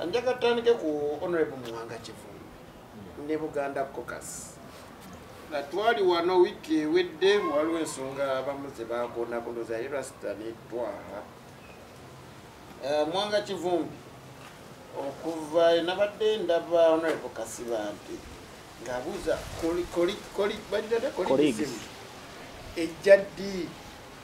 anjaga tutandike ku honorable muwanga kivumbi ne buganda cocas nga twali wano wiiki ewedde waliwo ensonga abamu zebakonakonoza ye rasita netwaha eh, muwanga kivumbi okuva enabadde ndaba honorable kasiba nti ngabuuza bagitate kolisimu ejja ddi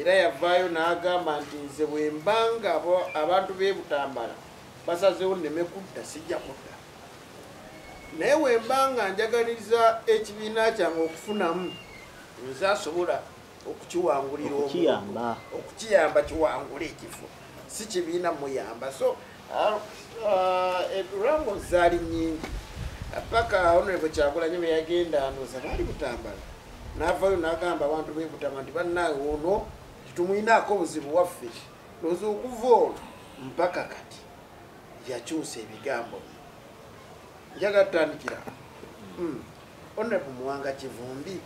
era yavaayo n'agamba nti nze bwembanga abantu bebutambala basazewo neme kudda sijja kudda naye wembanga njagaliza ekibiina kyange okufunamu nze asobola okukiwangulira okukiyamba kiwangule ekifo si kibiina muyamba so uh, uh, eh, rango zaali nyingi paka honorable kyagulanyi beyagenda anoza baali butambala navayo nagamba abantu bebutama nti banawe ono titumwinaako obuzibu waffe noza okuva ono mpaka kati yakyusa ebigambo njaga tutandikira hmm. honorable muwanga kivumbi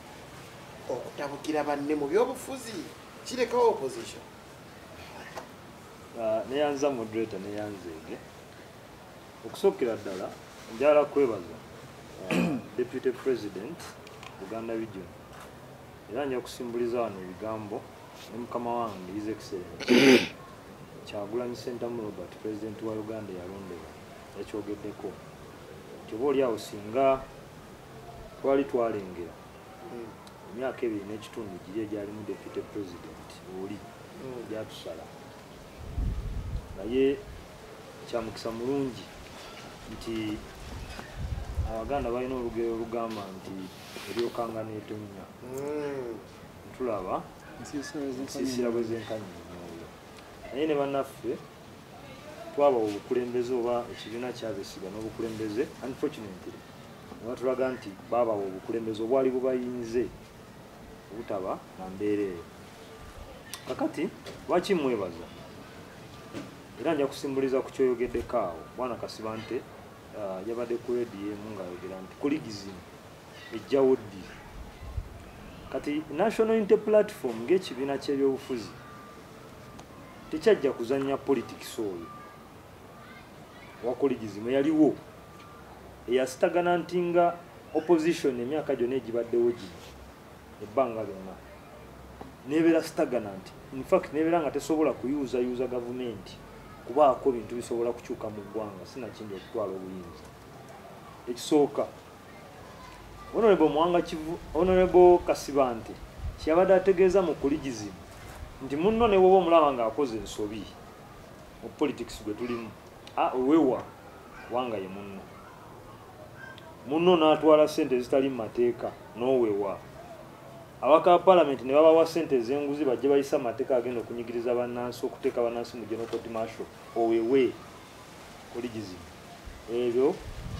okutabukira banne mu byobufuzi kirekawo opposition ah, neyanza moderator neyanzeege okusookera ddala njala kwebaza ah, deputy president buganda region era nja kusimbuliza wano ebigambo ne mukama wange his excellent kyagulanyi sentamu robert president wa uganda yalondebwa yakyogeddeko nti oba oli awo singa twali twalengera emyaka ebiri n'ekitundu giri egyalimu deputy president oli mm. gyatusala naye kyamukisa mulungi nti abaganda balina olugero olugamba nti eryokanga netonnya mm. ntulaba nsiisira bwezenkanyinyoyo naye ne banaffe twabawa obukulembeze oba ekibiina kyabesiga n'obukulembeze unfortunately nebatulaga nti baabawa obukulembeze obwali bubayinze obutaba na mbeera eyo kakati lwaki mwebaza era nja kusimbuliza ku kyoyogeddeko awo bwana kasiba nte uh, yabadde ku rediyo emu ngaayogera nti kuligizini ejjawo ddi kati national inte platform ng'ekibiina ky'ebyobufuzi tekyajja kuzanya politics oyo wakuligizima yaliwo eyasitagana nti nga opposition emyaka gyona egibaddewo gino ebbanga lyonna nebeera sitagana nti infact nebeera nga tesobola kuyuuzayuuza gavumenti kubaako bintu bisobola kukyuka mu ggwanga sinakindi okutwala obuyinza ekisooka Honorable Mwanga Kivu, Honorable Kasibante kyabadde ategeeza mu kuligizimu nti munno ne woba omulaba ng'akoze ensobi mu politics gwe tulimu wewa kubanga ye munno munno n'atwala ssente ezitali mu mateeka n'owewa abaka palamenti ne babawa ssente ez'enguzi bajje bayisa amateeka agenda okunyigiriza bannansi okuteeka bannansi mu genokoti masho owewe kuligizimu ebyo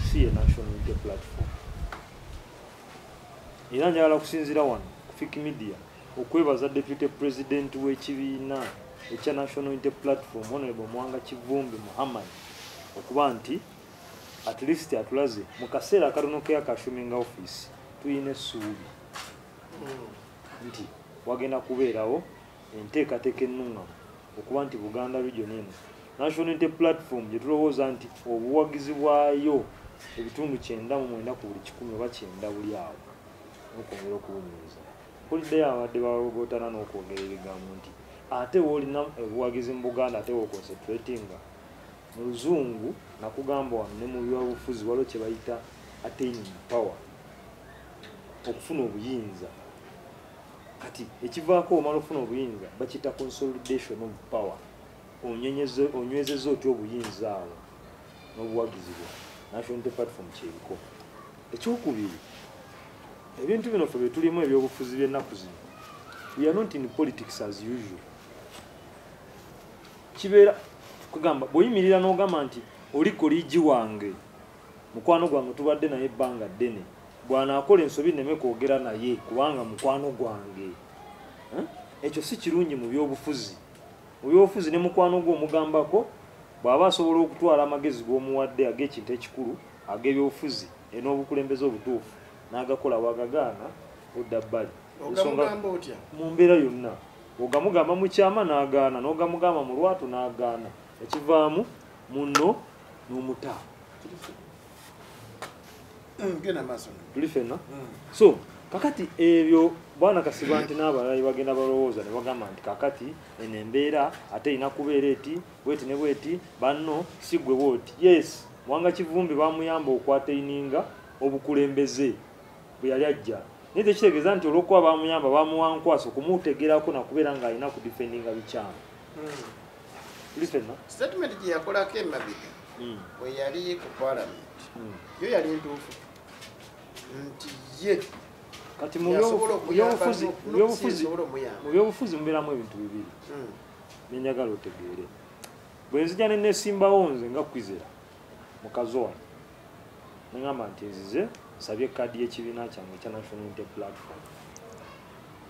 si ye national unity platform era njagala kusinzira wano kufik media okwebaza deputy president w'ekibiina ekya national unity platform honorable mwanga kivumbi muhammad okuba nti at least atulaze mu kaseera akatono keakashuminga office tulina essuubi nti wagenda kubeerawo enteekateeka ennuŋŋamu okuba nti buganda region eno national unity platform gyetulowooza nti obuwagizi bwayo ebitundu kyenda mu mwenda ku buli kikumi oba kyenda buli awo nokwongera okuwunyiriza kuliddeyo abadde bawogotana n'okwogera ebigambo nti ate woolina obuwagizi mu buganda ate woconcentratinga mu luzungu nakugamba wano ne mu byabufuzi waliwo kye bayita attaining power okufuna obuyinza kati ekivaako omala okufuna obuyinza bakiyita consolidation of power onywezeza otya obuyinza awo n'obuwagizi bwa national platform kyebiko ekyokubiri ebintu bino fe byetulimu ebyobufuzi byennaku zino we are not in politics as usual kibeera kugamba bweyimirira n'ogamba nti oli koligi wange mukwano gwange tubadde naye ebbanga ddene bwanaakola ensobi nneme kwogera naye kubanga mukwano gwange eh? ekyo si kirungi mu byobufuzi mu byobufuzi ne mukwano gwe omugambako bw'aba asobola okutwala amagezi g'omuwadde ag'ekintu ekikulu ag'ebyobufuzi en'obukulembeze obutuufu n'agakola wagagaana odda bbali mu mbeera yonna ogamugamba mu kyama n'agaana n'ogamugamba mu lwatu n'agaana ekivaamu munno n'omutaa mm, tuli fenna mm. so kakati ebyo bwana kasiba nti n'abalala bagenda balowooza ne bagamba nti kakati eno embeera ate erina kubeera eti bweti ne bweti banno si gwe bwoti yes wanga kivumbi bamuyamba okwateininga obukulembeze bwe yali ajja naye tekitegeeza nti olwokuba bamuyamba bamuwankwasa okumutegerako nakubeera ng'alina ku difendinga bikyamu hmm. statement gye yakolako emabega hmm. bwe yali ku parliament hmm. yo yali ntuufu nti ye kati mu byobufuzi mubeeramu ebintu bibiri hmm. nenjagala otegeere bwe nzija ne nesimbawo nze nga kwizera mukazi wange neŋamba nti nzize nsabye kaadi y'ekibiina kyange ekya national inte platform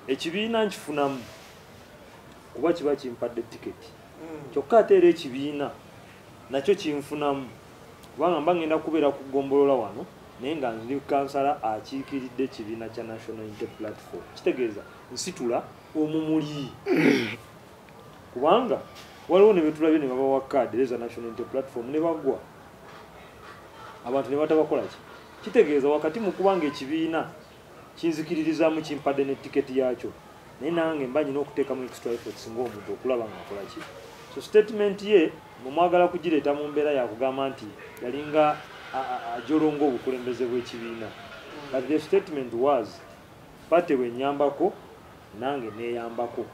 ekibiina nkifunamu kuba kiba kimpadde tiketi mm. kyokka ate era ekibiina nakyo kinfunamu kubanga mba ngenda kubeera ku gombolola wano naye nga ndi kansala akiikiridde ekibiina kya national inte platform kitegeeza nsitula omumuli kubanga waliwo ne betulabye ne babawa kaadi reza national inte platform ne bagwa abantu ne batabakolaki kitegeeza wakati mu kubanga ekibiina kinzikiririzaamu kimpadde ne tiketi yaakyo naye nange mba nyina okuteekamu extra efforts ng'omuntu okulaba nga nkola ki so statement ye mwemwagala kugireeta mu mbeera yakugamba nti yalinga ajolonga obukulembeze bw'ekibiina but the statement was pate bwenyambako nange neyambako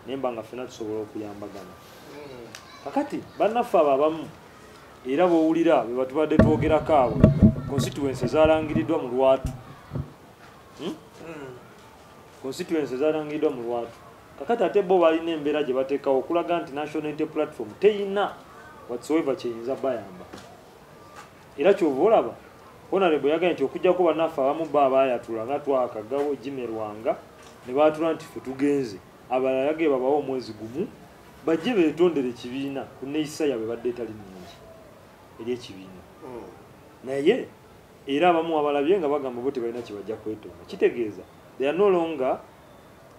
naye mba nga ffena tusobola okuyambagana kakati bannaffe abo abamu era bwowulira bwe batubadde twogerako awo constituency zalangiriddwa mu lwatu hmm? Hmm. constituency zalangiriddwa mu lwatu kakati ate bo balina embeera gye bateekawo okulaga nti national inte platform teyina whatsoever kyeyinza bayamba era kyova olaba honarebo yagaye nti okujjako banaffe abamu ba abayatula nga twakagawo jimerwanga ne baatula nti fe tugenze abalala yagee babawo omwezi gumu bajje betondere ekibiina ku neeyisa yaabwe badde etali nungi eri ekibiina hmm. naye era abamu abalabye nga bagamba bo tebalina kyebajja kwetonda kitegeeza they are no longer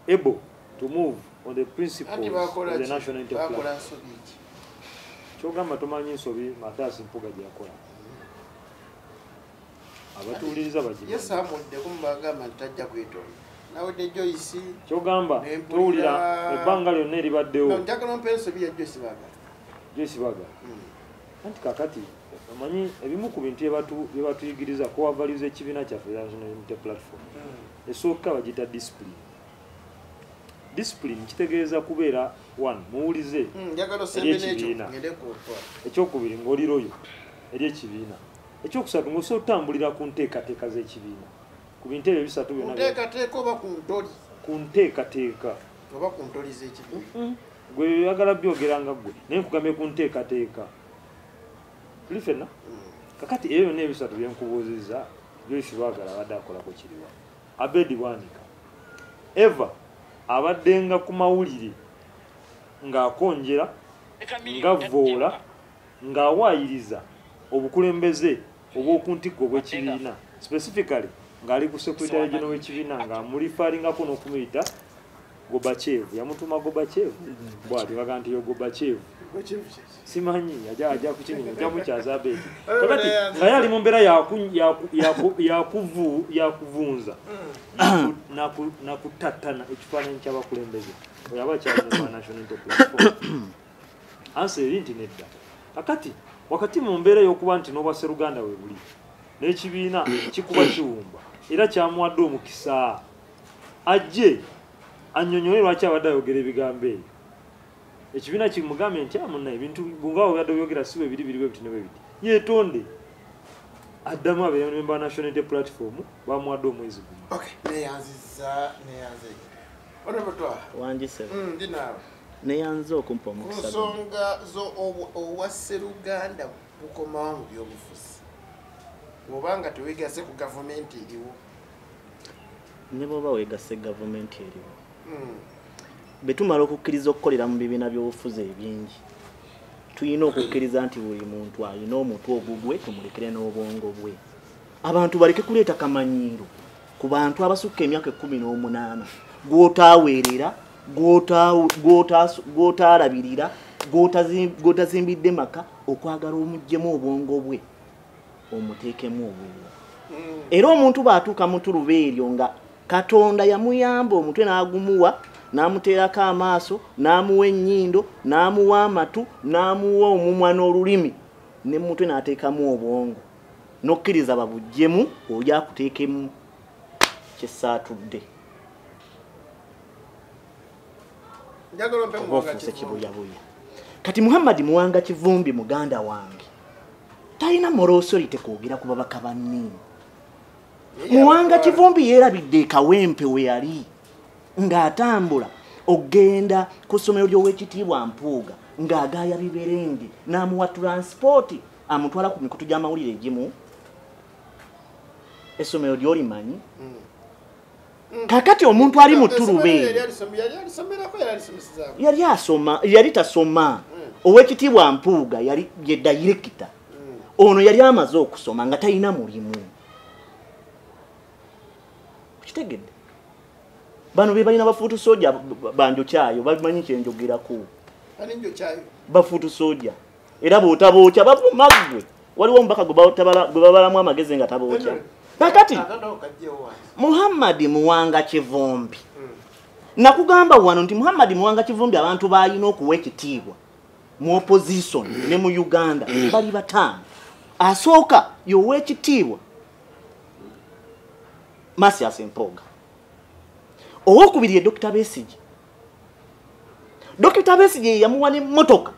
able to move on the principles of the national enterprise kyogamba tomanyi nsobi mathias mpuga gyeyakola abatuuliriza bagiyese amuddeko mubagamba nti tajja kwetonda nawedde joyisi kyogamba towulira ebbanga lyonna eribaddewo njagala ompa ensobi ya joyisi baga joyisi baga hmm. anti kakati omanyi ebimu ku bintu byebatuyigiriza kowavaliza ekibiina kyaffe nationality platform hmm. esooka bagita discipline discipline kitegeeza kubeera one muwulize hmm, ery'ekibiina ekyokubiri ng'oliroyo ery'ekibiina ekyokusatu ngaosobola otutambulira ku nteekateeka z'ekibiina ku bintu ebyo bisatu byonanteekateeka oba ku ntoli ku nteekateeka oba ku ntoli z'ekibiina mm-hmm. gwe oyagala byogera nga gwe naye nkugambye ku nteekateeka tuli fenna mm. kakati ebyo byonna ebisatu byenkubuuzizza joyce lwagala abadde akolako kiriwa abedi bwanika eva abaddenga ku mawulire ng'akonjera ngavvoola ng'awaayiriza obukulembeze obw'oku ntikko obw'ekibiina specifically ng'ali ku secretary geno w'ekibiina nga mulifaaringako n'okumuyita gobachev yamutuma gobachev bwati baga nti yo gobachev simanyi aja kukinyuma aja mukyaza beeti kakati naye ali mu mbeera yakuvunza nakutattana ekifaananyi ky'abakulembeze oyo aba kyali mu national platform ansa eri nti nedda kakati wakati mu mbeera y'okuba nti n'obwa seruganda we buli n'ekibiina kikuba kiwumba era kyamuwadde omukisa ajje annyonnyole lwaki abadde ayogera ebigambo ebyo ekibiina kimugambye nti amuna ah, ebintu bunga obadde oyogera si webiri biri bwebiti ne bwebiti yeetonde addamu abememba national day platform bamuwadde omwezi gumu okay. neyanziza neyanze onobatwa wangise mm, ndi naawe neyanza okumpa omukisa nsonga zo obwasseruganda bukomawo mu byobufuzi oba nga tewegase ku gavumenti eriwo ne bwoba wegase gavumenti eriwo hmm. betumala okukkiriza okukolera mu bibiina byobufuzi ebingi tulina okukkiriza nti buli muntu alina omutwe ogugwe tumulekere n'obwongo bwe abantu baleke kuleeta kamanyiiro ku bantu abasukka emyaka ekkumi n'omunaana gw'otaaweerera gw'otaalabirira gw'otazimbidde maka okwagala omuggyemu obwongo bwe omuteekemu obulwo mm. era omuntu bw'atuuka mu tuluba eryo nga katonda yamuyamba omutwe n'agumuwa n'amuteerako amaaso n'amuwa ennyindo n'amuwa amatu n'amuwa omumwa n'olulimi ne mutwe n'ateekamu obwongo nokkiriza babujjemu oli akuteekemu kyesaatudde obaofuuse kibuyabuya kati muhammadi muwanga kivumbi muganda wange talina morosorite kwogera ku babaka banni muwanga kivumbi yeerabidde ekawempe we yali ng'atambula okugenda ku ssomero ly'owekitiibwa mpuuga ng'agaaya biberenge n'amuwa tulansipooti amutwala ku mikutu gy'amawulire egimu essomero lyoli manyi hmm. kakati omuntu ali mu turube yali asoma yali tasoma hmm. owekitiibwa mpuuga yali ye dayirekita hmm. ono yali amaze okusoma nga talina mulimu okitegedde bano be balina bafuutu soja banjokyayo bamanyi kyenjogerako bafuutu soja era bwotabookya bavuma ggwe waliwo omubaka gwe babalamu amagezi nga tabookya kakati muhammadi muwanga kivumbi hmm. nakugamba wano nti muhammadi muwanga kivumbi abantu balina okuwa ekitiibwa mu opposition hmm. ne mu uganda hmm. bali bataano asooka yowa ekitiibwa masias empooga owokubiri ye dokita besigi dokita besigye yeyamuwa nemotoka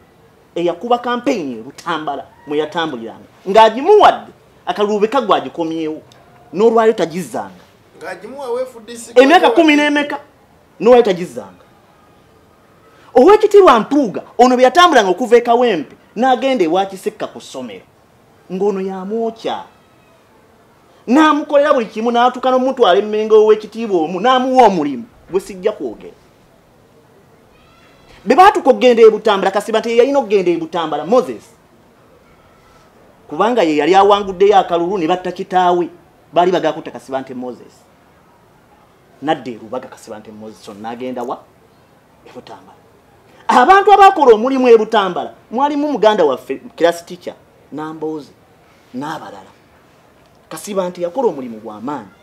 eyakuba kampeyini erutambala mweyatambuliranga ng'agimuwadde akaluube kagwe agikomyewo n'olwayo tagizzanga emyaka kumi n'emeka n'olwayo tagizzanga owekitiibwa mpuuga ono bwe yatambulanga okuva ekawempe n'agenda ewakisekka ku ssomero ng'ono yamwokya n'amukolera buli kimu n'atuuka n'omutwala emmenga ow'ekitiibwa omu n'amuwa omulimu gwe sijja kwogera be baatuka okugenda e butambala kasiba nti yeyalina okugenda e butambala moses kubanga ye yali awanguddeyo akalulu ne batta kitaawe baali bagakutta kasiba nti moses nadda erubaga kasiba nti moses on n'agenda wa e butambala abantu abakola omulimu e butambala mwalimu muganda waffe kirasi tica namboozi n'abalala kasiba nti yakola omulimu gwamaanyi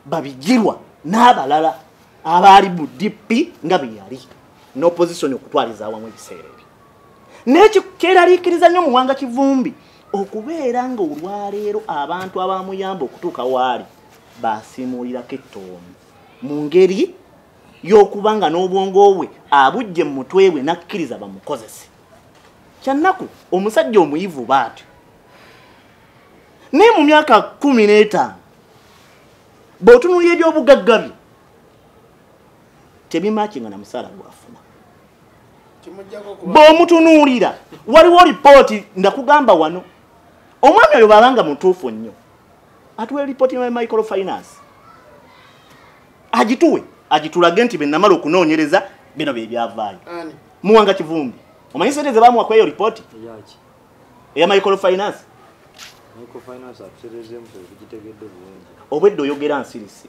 babigirwa n'abalala abaali mu dp nga beyali n'opozisoni okutwaliza awamu ebiseera ebyo nekyo kyeraliikiriza nnyo muwanga kivumbi okubeera nga olwaleero abantu abamuyamba okutuuka waali basimuulirako ettoomu mu ngeri y'okuba nga n'obwongo bwe abujje mu mutwe bwe n'akkiriza bamukozese kyannaku omusajja omuyivu baatyo naye mu myaka kumi n'etaano bw'otunuulira ebyobugagga bye tebimakinga na musaala gwafuna bw'omutunuulira waliwo lipooti ndakugamba wano omwami oyo babanga mutuufu nnyo atuwe lipooti ya microfinance agituwe agitulage nti benamala okunoonyereza bino bye byavaayo muwanga kivumbi omanyi sente ze bamuwa kweyo lipooti eya micro finance obwedde oyogera nsirise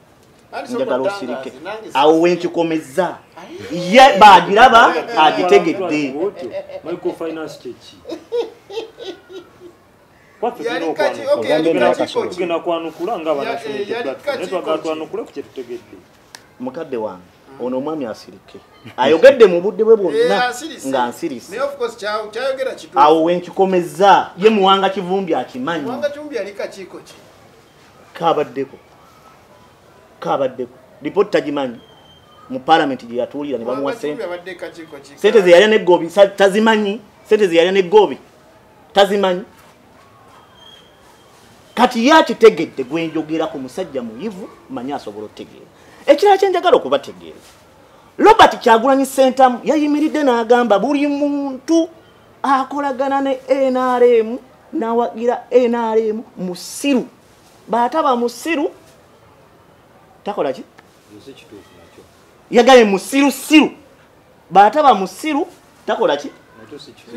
njagala osirike awo wenkikomeza ye bagiraba agitegedde tugenda kwanukula nga abanaye twagatwanukule ku kyetutegedde mukadde wange ono omwami asirike ayogedde mu budde bwe bwonna eh, nga nsirise awo wenkikomezza ye muwanga kivumbi akimanyi kabaddeko kabaddeko lipooti tagimanyi mu palamenti gye yatuulira ne bamuwa sente sente zeyalya negoobi tazimanyi sente zeyalya negoobi tazimanyi kati ye akitegedde gwe njogera ku musajja muyivu manyi asobola otegeera ekirala kye njagala okubategeera robert kyagulanyi sentamu yayimiridde n'agamba buli muntu akolagana ne nrm n'awagira nrm musiru baataba musiru takola ki yagaye musirusiru bwataba musiru takola ki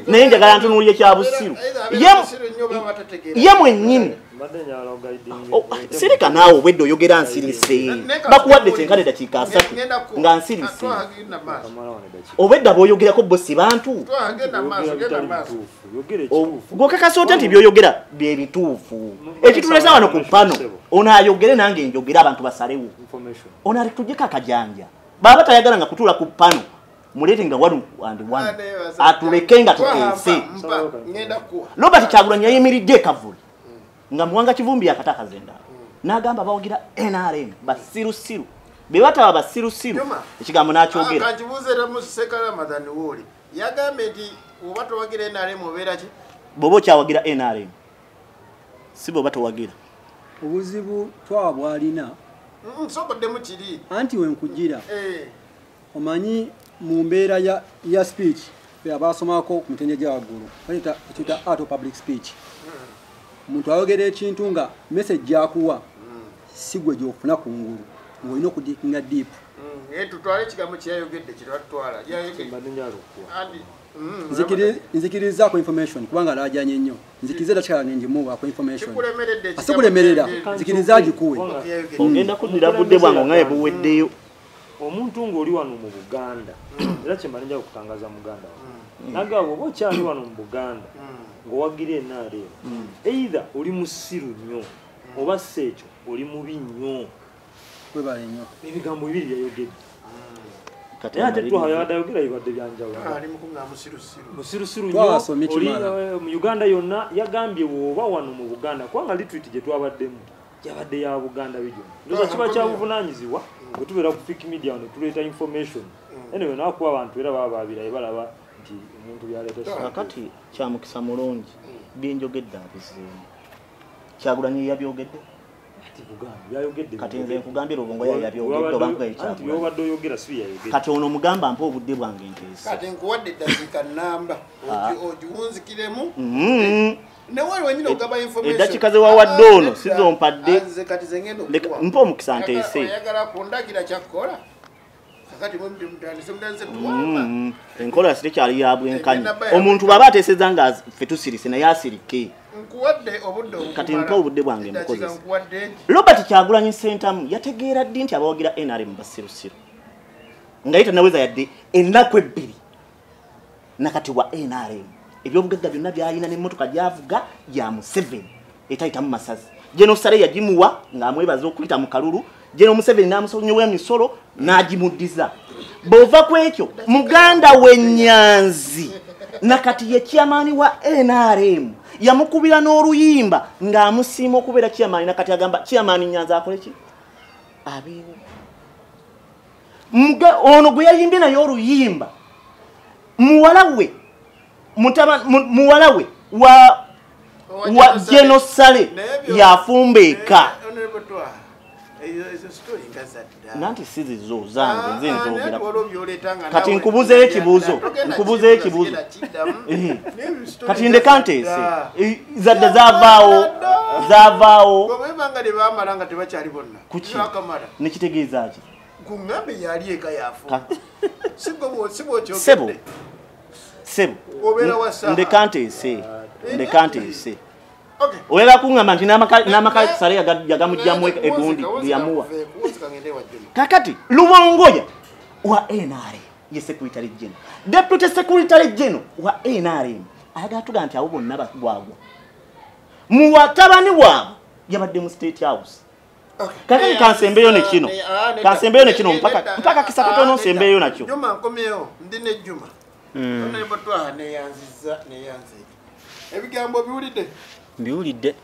naye njagala ntunuulira ekyabusiru ye mwennyini oh, sirika naawe obwedde oyogera nsirise bakuwadde kyenkana eddakiika asatu nga nsirise obwedda bwoyogerako bo si bantu gwokakasa otya nti byoyogera byebituufu ekitulesa wano ku pano ono ayogere nange njogere abantu basalewo ono ali tujeko akajanja baba tayagala nga kutula ku pano mulete nga one and one atuleke nga tukeese robert kyagulanyi yayimiridde ekavuli nga muwanga kivumbi yakatakaza endala n'agamba bawagira nrm basirusiru be bataba basirusiru ekigambo n'akyogera yagambye nti oba towagira nrm obeera ki bwoba okyawagira nrm si bwoba towagira obuzibu twa bwalina nsoboddemu mm, kiri anti wenkujira eh. omanyi mu mbeera ya speech abasomako ku mitendya gya waggulu ekiyita art of public speech omuntu hmm. ayogera ekintu nga message gyakuwa hmm. si gwe gyofuna ku ngulu ng'olina okudikinga deep hmm. eh, tutwale ekigambo kyeyayogedde kyetatwala Mm, nzikiriza ku information kubanga alajanye nnyo nzikiriza era kyalange ngimuwa ku information asikulemerera nzikiriza agikuwe mm. ogenda kuddira budde bwange ngaye buweddeyo omuntu ng'oli wano mu buganda mm. era kyemala nja kutangaza muganda nagamba oba okyali wano mu buganda ng'owagira enrm either oli musiru nnyo oba si ekyo oli mubi nnyo webale nnyo ebigambo bibiri yayogedde naye ate twaha yabadde ayogera bibadde byanjawulomusirusiru ah, nyo mu uganda yonna yagambye woba wano mu buganda kubanga litrit gye twabaddemu yabadde ya buganda bigyo ndoza ah, kiba kyabuvunanyizibwa bwe tubeera ku fik media wano tuleeta information mm. anyway nakuba abantu era baba babiraye balaba nti omuntu byaleetakati kyamukisa mulungi mm. byenjogedde abizeemu kyagulanyi yabyogedde kati nze nkugambye lubongo yayabyogedde oba nkugaekyakati oyogera si yayogera kati ono mugamba mpa obudde bwange nteesi kati nkuwadde eddakika namba ah. ogiwunzikiremu mm-hmm. eddakika ze wawadde ono sizompadde mpa omukisa nteese Mm-hmm. enkola sitekyali ya bwenkanya omuntu bwaba ateseza nga fe tusirise naye asirike kati mpa obudde bwange mukozesa robert kyagulanyi sentamu yategeera ddi nti abawagira nrm basirusiru nga ye tanaweza yadde ennaku ebbiri nakati wa nrm ebyobugagga byonna byalina nemotoka gyavuga ya museveni etayitamu masazi genosale yagimuwa ngaamwebaza okuyita mu kalulu geno museveni namusonyowa emisolo nagimuddiza bwova ku ekyo muganda wenyanzi nakati ye chairmani wa nrm yamukubira n'oluyimba ng'amusiima okubeera chairmani nakati agamba chairmani nyanzi akoleki abeewo ono gwe yayimbye naye oluyimba muwala we muwala we wa wa genosale yafumba eka nanti sizizo zange ah, nze ah, nzogera kati nkubuzeyo ekibuuzo nkubuzeyo ekibuuzo eh. kati ndeka nteese eh, zadda zavaawo zavaawo nekitegeeza ki sebo sebo ndeka nteese ndeka nteese oyagala kuŋamba nti n'amaka sale yagamugjamu egundi lyamuwa kakati lubongoya wa nrm ye secretary general deputy secretary general wa nrm ayagala tuga nti abo bonna bagwagwa muwatabani waabwe yabadde mu state house kakati kansembeyo nekino kansembeyo nekino mpaka mpaka kisakata ono nsembeyo nakyo juma nkomyewo ndi ne juma hmm. ono ebotwa ne yanziza ne yanzi ebigambo biwulide biwulide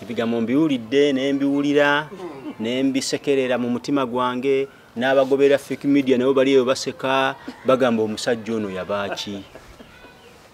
ebigambo mbiwulide ne mbiwulira hmm. ne mbisekerera mu mutima gwange n'abagobera fake media nabo bali eyo baseka bagamba omusajja ono yabaaki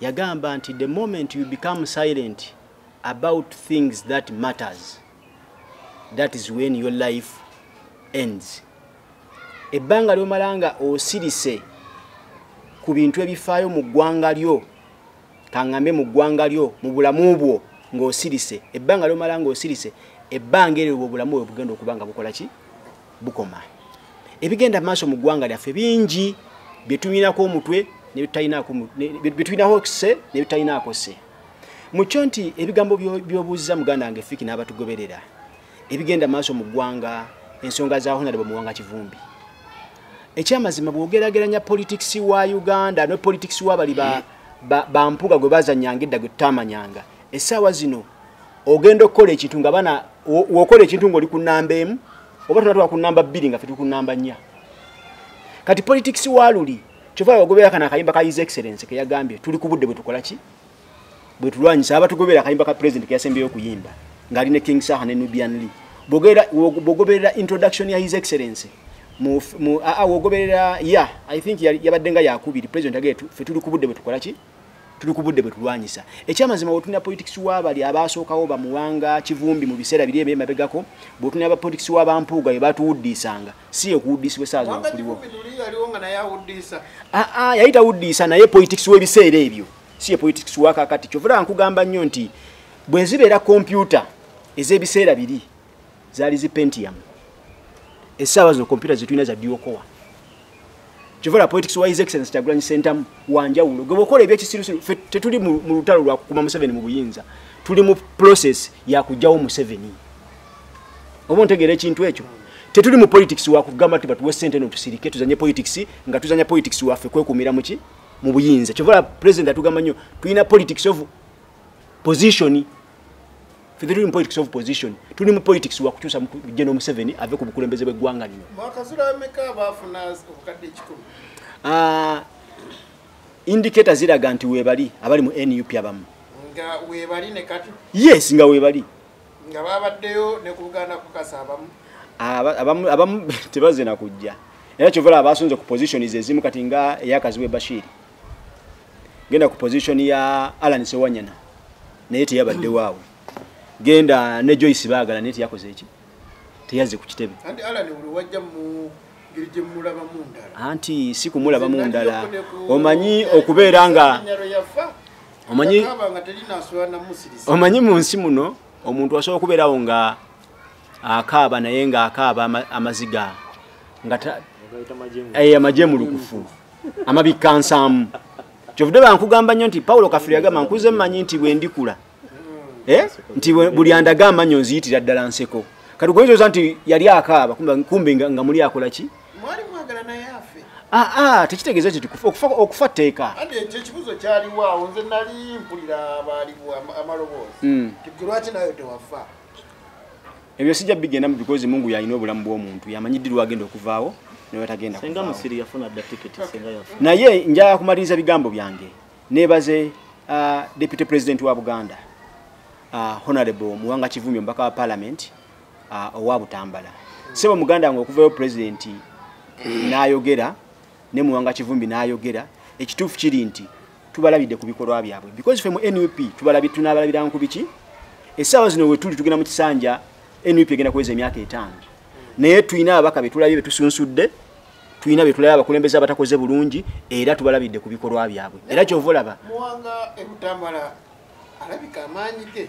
yagamba nti the moment you become silent about things that matters that is when your life ends ebbanga lyomala nga osirise ku bintu ebifaayo mu ggwanga lyo kaŋŋambe mu ggwanga lyo mu bulamu bwo ng'osirise ebbanga lyomala ng'osirise ebbanga eryo bwobulamu bwe bugenda okuba nga bukola ki bukoma ebigenda maaso mu ggwanga lyaffe bingi byetunyinako omutwe byetulinako kise nebitutalinaako se mukyo nti ebigambo byobuuzza muganda wange fiki n'abatugoberera ebigenda maaso mu ggwanga ensonga za honarebo muwanga kivumbi ekyamazima bwogerageranya politics wa uganda ne politics wabali bampuga gwe bazanyanga edda gwe tutamanyanga essaawa zino ogenda okukola ekintu nga bana wokola ekintu ngaoli ku namba emu oba tonatwala ku namba bbiri nga fetuli ku namba nnya kati politics waluli kyova wagobera kana akayimba ka his excellence keyagambye tuli ku budde bwetukola ki bwetulwanyisa aba tugobera akayimba ka president keyasembyeyo okuyimba ngaali ne king saha ne nubian lee bwogoberera introduction ya his excellence wogoberera ya i think yabadde nga yakubiri president agetu fetuli ku budde bwetukola ki tuli ku budde bwe tulwanyisa ekyamazima wotuna politics wabali abaasookawo bamuwanga kivumbi mu biseera biri ebyema begako bwotuna aba politics wa bampuuga be batuwuddiisanga si yekuwuddiisibwa esaaza okuliwo ah, ah, yali tawuddiisa naye politics w'ebiseera ebyo si ye politics wakakati kyovula nkugamba nnyo nti bwe zibeera kompyuta ez'ebiseera biri zaali zi pentium essaawa zino kompyuta zetulina za diokowa kivala politics wa his excellence kyagulanyi sentamu wanjawulo gwe bwokola ebyekisirusiru fe tetuli mu lutalo lwa kukuma museveni mu buyinza tuli mu process ya kujjawo museveni oba ontegeera ekintu ekyo tetuli mu politics wa kugamba ti batuwe sente no tusirike tuzanye politics nga tuzanya politics waffe kwekumira muki mu buyinza kivala president atugamba nnyo tulina politics of position fedhili mu politics of position tuli mu politics wa kukyusa general museveni ave ku bukulembeze bw'eggwanga lino ah, indicator ziraga nti webali abali mu nup abamu yes nga webali abamu tebaze na kujja era kyovala abasunze ku position zezimu kati nga eyakaziwe bashiri genda ku position ya Alan Sewanyana naye teyabadde waawe genda ne Joyce Bagala naye teyakoze eki teyazze ku kitebe anti Alan wajja mu anti si kumulaba mu ndala omanyi okubeera nga omanyi omanyi mu nsi muno omuntu asobola okubeerawo nga akaaba naye nga akaaba amaziga nga amagye eh, mulukufu amabikka nsaamu kyovude bankugamba nnyo nti pawulo kafiri yagamba nkuze mmanyi nti bwe ndikula eh? nti buli andaga amanyo nziyitira ddala nseko kati gwenzoza nti yali akaaba kumbe nga muli akola ki aa tekitegeeza nti okufa tteeka ekyekibuzo kyaliwaawo nze nali mpulira abaaliwo amaloboozi hmm. lwaki nayo tewafa ebyo sijja bigendamu because mungu yalina obulamu bw'omuntu yamanyi ddi lwagenda okuvaawo newetagenda naye njaya kumaliriza bigambo byange nebaze uh, deputy president wa buganda uh, honorable muwanga kivumi omubaka wa parliament uh, owa butambala sebo muganda nga okuvayo president nayogera ne muwanga kivumbi nayogera ekituufu kiri nti tubalabidde ku bikolwa byabwe because fe mu nup tunabalabiranga ku biki essaawa zino wetuli tugenda mu kisanja nup egenda kuweza emyaka etaano naye tulina ababaka betulabye betusunsudde tulina betulabye abakulembeze abatakoze bulungi era tubalabidde ku bikolwa byabwe era kyova olaba alabika amaanyi ge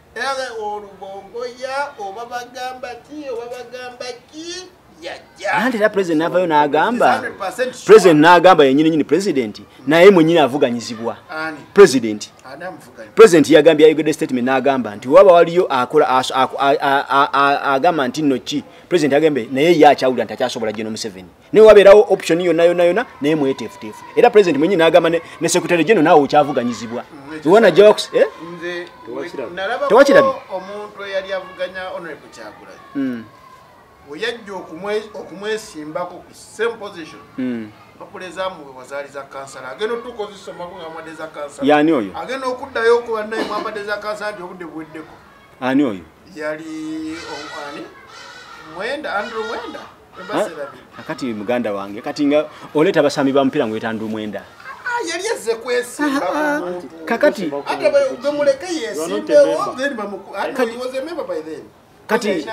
Era olubongo ya oba bagamba ki oba bagamba ki nanti era president navayo nagamba president nagamba yenyini nyini president naye mwenyini avuganyizibwa president president yagambye ayogedde statement nagamba nti waba waliyo akola agamba nti nno ki president agambe naye ye akyawulira nti akyasobola geno museveni naye wabeerawo option yonna yonna yonna naye mweteefuteefu era president mwenyi n'agamba ne secretary geno naawe okyavuganyizibwa iwana jawaks eh? tewakirabye omuntu eyali avuganya honorable kyagulai hmm. weyajja okumwesimbako ku same position hmm. mpapula ezamuwe wazaali za kansala agenda otukozisomako nga mwade za kansala yani oyo agenda okuddayo okuba naye mwambadde za kansala nti obudde buweddeko ani oyo yali oh, ani mwenda andrew mwenda akati muganda wange kati nga oleeta abasambi ba mupiira ngweta ndi mwenda ah, yali ezze kwesimba ah, ah, kakati ate gwe muleke yesimbewo then bamukuwoze memba by then kati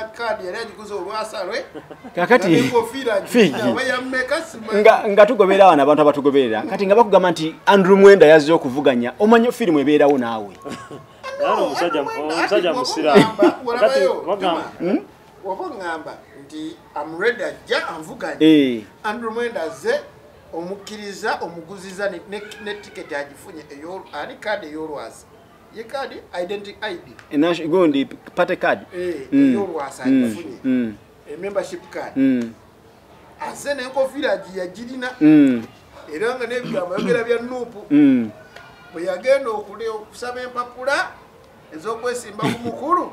kakati nga tugoberera wano abantu abatugoberera kati nga bakugamba nti andrew mwenda yazze okuvuganya omanyi firimu ebeerawo naawe omusajja musiraamu oba oŋŋamba nti amuredi ajja anvuganye eh. andrew mwenda azze omukkiriza omuguziza ne tiketi agifunye ani kaadi ey'olwazi ye kaadi identity id eh, gundi party card eh, mm. ey'olwazi mm. agifunye mm. emembership card azze n'enkofiira agiyagirina era nga n'ebigambo yogera bya nuupu bwe yagenda okusaba empapula ez'okwesimba ku mukulu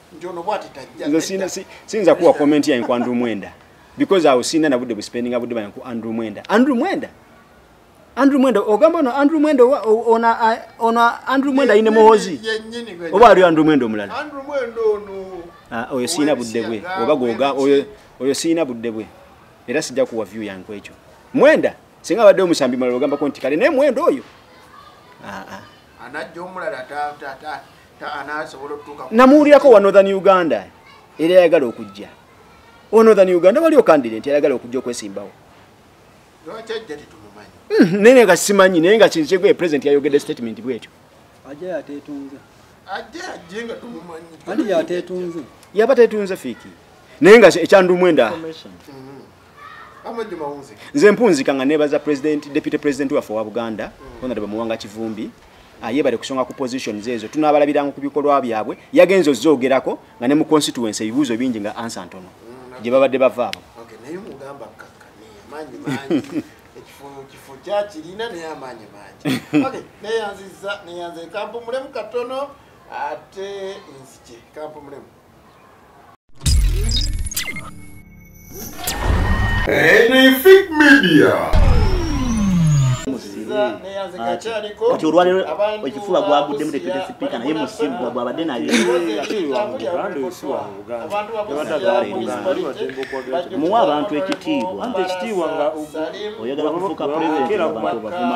nze sina sinza kuwa comment ya kwa Andrew Mwenda because I usina na bude spending abude ba kwa Andrew Mwenda Andrew Mwenda Andrew Mwenda ogamba no Andrew Mwenda ona ona Andrew Mwenda ine mohozi oba ari Andrew Mwenda omulala Andrew Mwenda ono ah oyo sina bude bwe oba goga oyo oyo sina bude bwe era sija kuwa view ya kwa echo Mwenda singa bade omusambi malogamba konti kale ne Mwenda oyo ah ah anajja omulala ta ta ta namuwulirako wa northern uganda era yayagala okujja owa northern uganda waliwo kandire nti yayagala okujja okwesimbawo hmm, naye nga simanyi naye nga kintu kyegwe president yayogedde statement bwekyo yaba tetunze fiiki naye nga ekyandumwendaa nze mpunzika nga nebaza president deputy president waffe wa buganda honorable muwanga kivumbi ah, yebale kusonga ku positions ezo tunabalabiranga ku bikolwa byabwe yagenze ozoogerako nga ne mu constituency ebibuuzo bingi nga ansa ntono mm, gye babadde bava abo neyanziza neyanze kampu mulemu katono ate nzije kampu mulemu Anything media. kati olwalero ekifuba gwaguddemu tetwete sipiika naye musimbwa gwabadde naye muwa abantu ekitiibwa oyagala kufuuka president abantu obavuma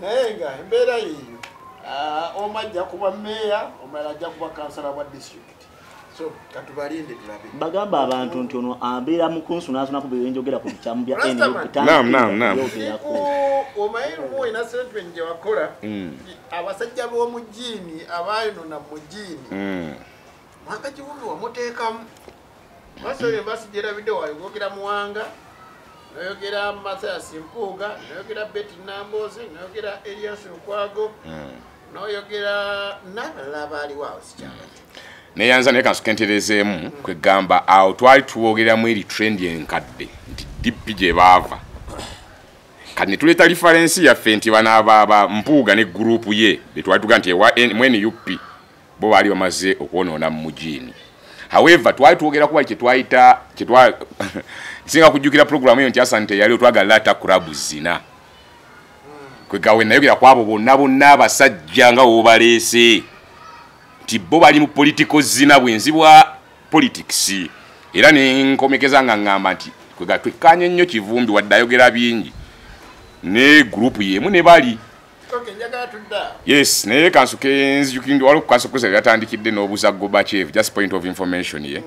naye nga embeera yeeyo ah, omu ajja kuba meeya omala ajja kuba kansala bwa district bagamba abantu nti ono abeera mukunsu nansonako byenjogera ku bikyamu bya nbyogeaomayeomuoinasentuenjewakola mm. abasajja b'omujiini abayonona mujiini mm. mwaka kiwubi wamuteekamu Masa oyo mbasi gyerabidde wayo gwogera muwanga noyogera Mathias Mpuuga noyogera Betty Namboozi noyogera Elias Lukwago hmm. noyogera nabalala baaliwo awo sikyamanyi neyanza naye kansukenterezeemu hmm. kwegamba awo twali tuwoogeramu eri trend enkadde nti dp gye baava kati netuleeta lifarensi yaffe nti banabaaba mpuuga ne gurupu ye betwali tuga nti ewa mnup bo baali bamaze okwonoona mu mujiini however twali twogera kuba kyetwayita kyetwa nsinga kujjukira puroguramu eyo nti asante yali otwagala laata kurabu zina kwegawe nayogera ku abo bonna bonna abasajja nga wobaleese nti bo bali mu politiko zina bwenzi bwa politics era nenkomekeza nga ŋŋamba nti kwega twekkanye nnyo kivumbi wadde ayogera bingi ne gurupu yeemu ne bali yes naye kansuke nzijukinde waliwo kukansa okukozesa byatandikidde n'obuza gobachev just point of information ye yeah.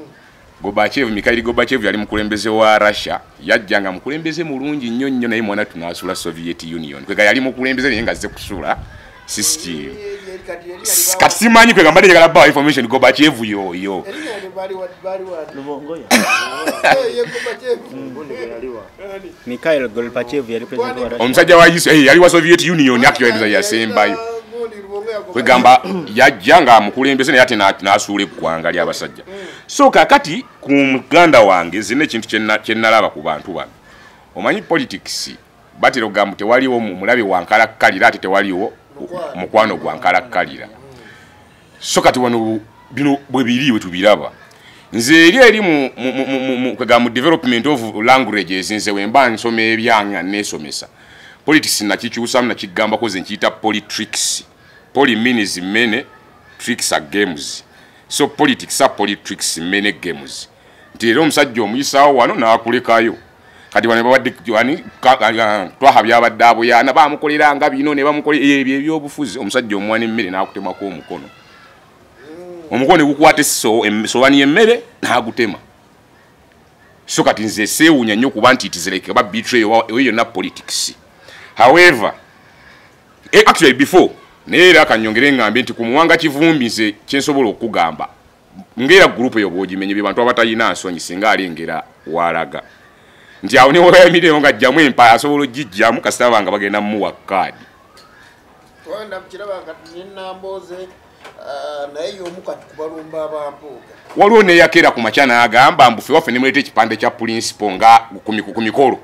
gobachev mikaili gobachev yali mukulembeze wa russia yajja nga mukulembeze mulungi nnyo nnyo naye mwana tunasula soviet union kwega yali mukulembeze naye nga zze kusula system kati simanyi kwega mbadde njagala bawa information gobachev yoyo omusajja wa yesu eh, yali wa soviet union akyoeza yasembayo kwegamba yajja nga amukulembeze naye ate nasuula eggwanga lyabasajja so kakati ku muganda wange zina ekintu kyenalaba ku bantu bano omanyi politics batera okugamba tewaliwo mulabe wankalakkalira ate tewaliwo mukwano gwankalakkalira so kati wano bino bwe biri bwe tubiraba nze eri eri kwega mu development of languages nze wemba nsoma ebyanga nesomesa politics nakikyusamu nakigambako ze nkiyita politricks poly means many tricks are games so politics are politricks many games nti era omusajja omuyisaawo wano n'akulekayo kati wano babadde ani twaha byabadde aboyaana bamukolera nga bino ne bamukolera ebyo ebyobufuzi omusajja omuwana emmere n'akutemako omukono omukono negukwata esobani yemmere n'agutema so kati nze seewunya nnyo kuba nti itizireke oba bitre oyo yonna politics however eh, actually before naye era kanyongere ngambye nti ku muwanga kivumbi nze kyensobola okugamba ngera group yo boji menye bi bantu abatayina nsonyi singa ali ngera walaga nti awo ne waya mide nga jamu empa asobolo jijja mu kasita banga bagenda mu wakad wanda mkira banga nina mboze ah, na hiyo muka tukubalumba bambuga waliwo ne yakera ku machana agamba mbufe wafe nimulete ekipande kya principal nga kumi kumi kolo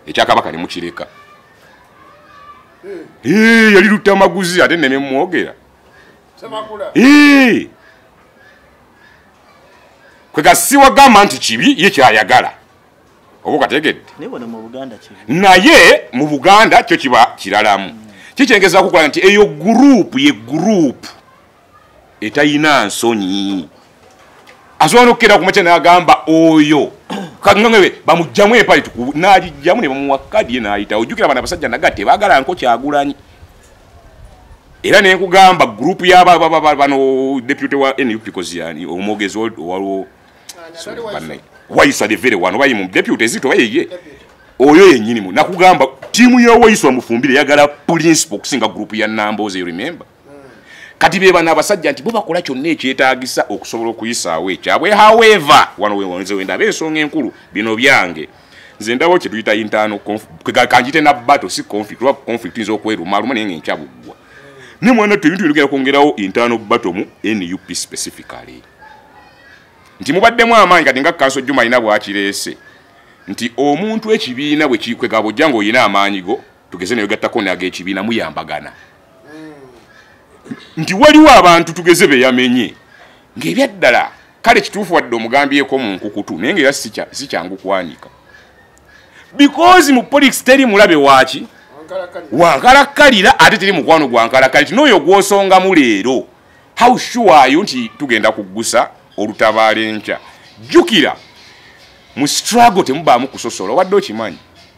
ekyakabaka ne mukireka hmm. eh yali lutamaguzi ate ne mwogera kwegasiwa gamba nti kibi ye kyayagala oba okategedde naye mu buganda kyo kiba kiralamu mm. kikyengeza kukola nti eyo gurupu ye gurupu etayina nsonyi asobola nokukera kumakya nagamba oyo kaŋŋaŋe bamugyamu empale tukubu n'agijjamu ne bamuwa kadi ye n'ayitawo ojjukira bana abasajja naga tebagala nko kyagulanyi era ne nkugamba gurupu yabano deputy wa nup koziyani omwogezi waliwo wayisa devere wano bayi mu deputy zito bayeye oyo yenyini mu nakugamba tiimu ya wayisa omufumbire yagala principal okusinga gurupu ya namboze you remember kati bebano abasajja nti bubakola kyonna ekyetagisa okusobola okuyisaawo ekyabwe however wano wenze wendaba ensonga enkulu bino byange nze ndawo kyetuyita intano kanjite na bato si conflict oba conflict nza okwerumaluma naye nga enkyabuggwa naye mwana tu ebintu binogenda kwongerawo intano bato mu nup specifically nti mubaddemu amaanyi kati nga kanso juma alina bwakireese nti omuntu ekibiina bwekikwegabojja ngaolina amaanyi go tugeze newegattako nagekibiina muyambagana nti waliwo abantu tugeze beyamenye ngaebyaddala kale kituufu wadde omugambyeko mu nkukutu naye nga era sikyangu kwanika bikozi mu politics teri mulabe waki wankalakkalira ate teri mukwano gwankalakkalira ti nooyo gwosongamu leero how sure are you nti tugenda kuggusa olutabaala enkya jjukira mu struggle temubaamu kusosola wadde okimanyi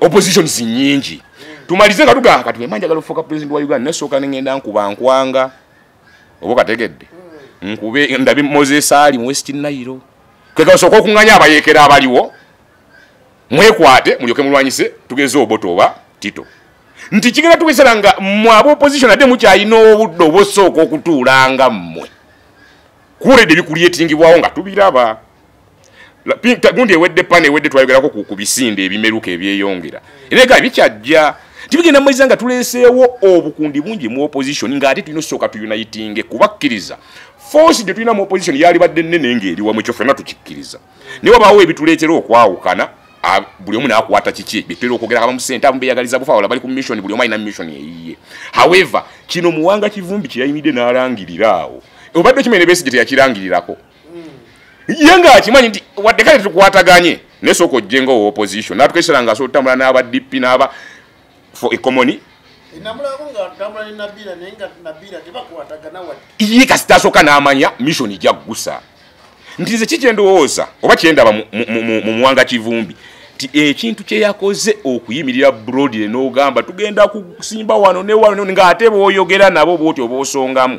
oppositions nyingi tumalize nga tugaa kati wema njagala ofuuka president wa uganda nasooka nengenda nkuba nkwanga oba kategedde hmm. nkube ndabi moses ali mu west nairo kekasooka okunganya abayekera abaliwo mwekwate mulyoke mulwanyise tugeze oboto oba tito nti kigenda tugesera nga mwe aba opposition ate mukyalina obudde obosooka okutuulanga mmwe kuwulede bikulyettingibwawo nga tubiraba gundi ewedde pana ewedde twayogerako ku bisinde ebimeruka ebyeyongera era ega bikyajja tibigenda mumaiza nga tuleeseewo obukundi bungi mu opposition ng'ate tulina osooka tuyunayitinge kubakkiriza force gye tulina mu opposition yalibadde nnene ng'eri wamu ekyo fena tukikkiriza naye wabaawo ebituleetera okwawukana buli omu nakwata kiki byetera okwogera abamu sente abamu beyagaliza bufa wala bali ku mission buli omu alina mission eyiye however kino muwanga kivumbi kyeyayimidde n'alangirira awo obadde okimanyi ne besigye teyakirangirirako ye nga akimanyi nti wadde kale tukwataganye naye sooka ojje nga owa opposition natukesera nga asobola otambula n'aba dp n'aba for economy ye kasita asooka n'amanya mission jaggusa nti nze kikyendowooza oba kyendaba mu muwanga kivumbi nti ekintu kyeyakoze okuyimirira brodire n'ogamba tugenda kusimba wano ne wano ng'ate booyogera nabo bwoti oba osongamu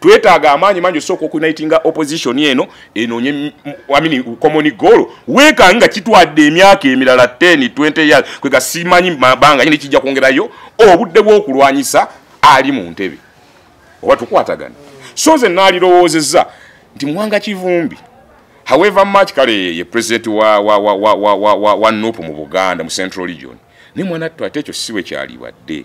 twetaaga amaanyi mangi osooka okunaitinga opposition eno enonye amini common goal weeka nga kitwadde emyaka emirala 10 20 years kwega simanyi mabanga nyini kijja kwongerayo obudde bw'okulwanyisa ali mu ntebe oba tukwatagana so nze naalirowoozezza nti mwanga kivumbi however much kale ye president wa, wa, wa, wa, wa, wa, wa, wa nup mu buganda mu central region ne mwana ttu ate ekyo siwe kyalibadde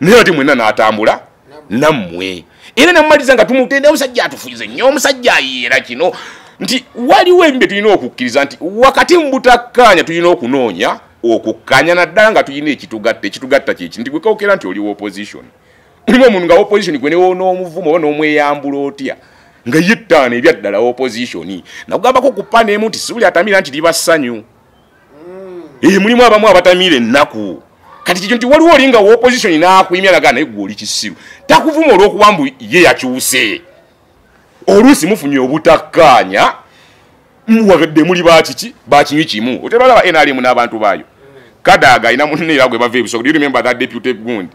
naye ate mwena natambula nammwe era namumaliza nga tumutenda omusajja atufuyize nnyo omusajja ayiera kino nti waliwo ebimu bye tulina okukkiriza nti wakati mu butakkaanya tulina okunoonya okukkanya naddala nga tulina ekitugatta ekitugatta kyeki nti gwekawokera nti oliwo opposition mulimu omuntu nga opposition gwe newonaomuvumu oba n'omweyambula otya nga yettaano ebyaddala opposition nakugambako ku paneemu nti sibuli atamira nti liba ssanyu ee eh, mulimu abamu abatamiira ennaku kati kikyo nti waliwo olinga wopositioni n'akuyimya nagaa naye gwe oli kisiru takuvuma olw'okuba mbu ye yakyuse oluusi mufunye obutakkaanya muwagadde muli bakiki bakinywi kimu otebalaba nrm n'abantu baayo kadaaga alina munne era gwe bava ebisogo do you remember that deputy gundi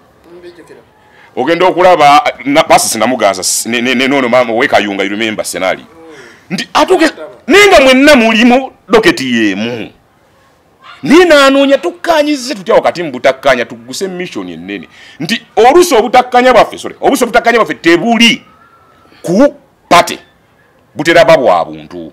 ogenda okulaba pasisi namuganza neno maama owekayunga irumemba senali nti atuke naye nga mwenna mulimu doketi yemu naye nanoonya tukkanyize tutya wakati mu butakkanya tugguse missioni ennene nti oluusi obutakkanya bwaffe sore oluusi obutakkanya bwaffe tebuli ku pate butera ba bwa buntu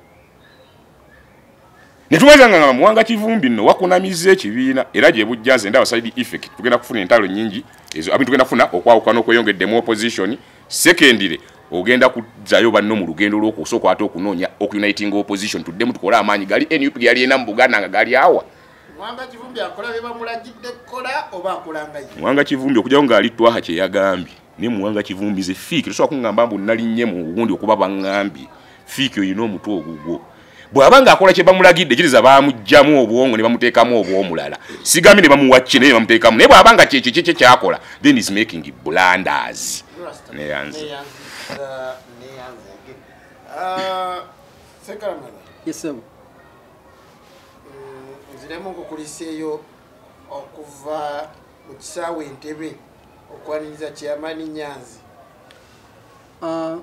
netumaza nga muwanga kivumbi no wakunamiza ekibiina era gye bujja nze ndaba side effect tugenda kufuna entalo nyingi ezo abintu tugenda kufuna okwawukana okweyongedde mu opposition secondary ogenda kuzayo banno mu lugendo lwokusooka ate okunoonya okuniting opposition tuddemu tukole amaanyi gali nup ge yaliyena mu buganda nga gali awa mwanga kivumbi okujawo ng'ali twaha kye yagambye naye muwanga kivumbize fiiki tosobola kungamba mbu nalinnye mu wundi okuba bangambye fiiki olina omutwe ogugwo bw'aba ng'akola kye bamulagidde kiriza bamugyamu obwongo ne bamuteekamu obw'omulala sigambye ne bamuwa kye naye ne bamuteekamu naye bw'aba nga kyekyo kyekye kyakola then is making blanders neyanze nziremu nkukuliseeyo okuva mu kisaawe entebe okwaniriza kyeyamaani nyanzi ah.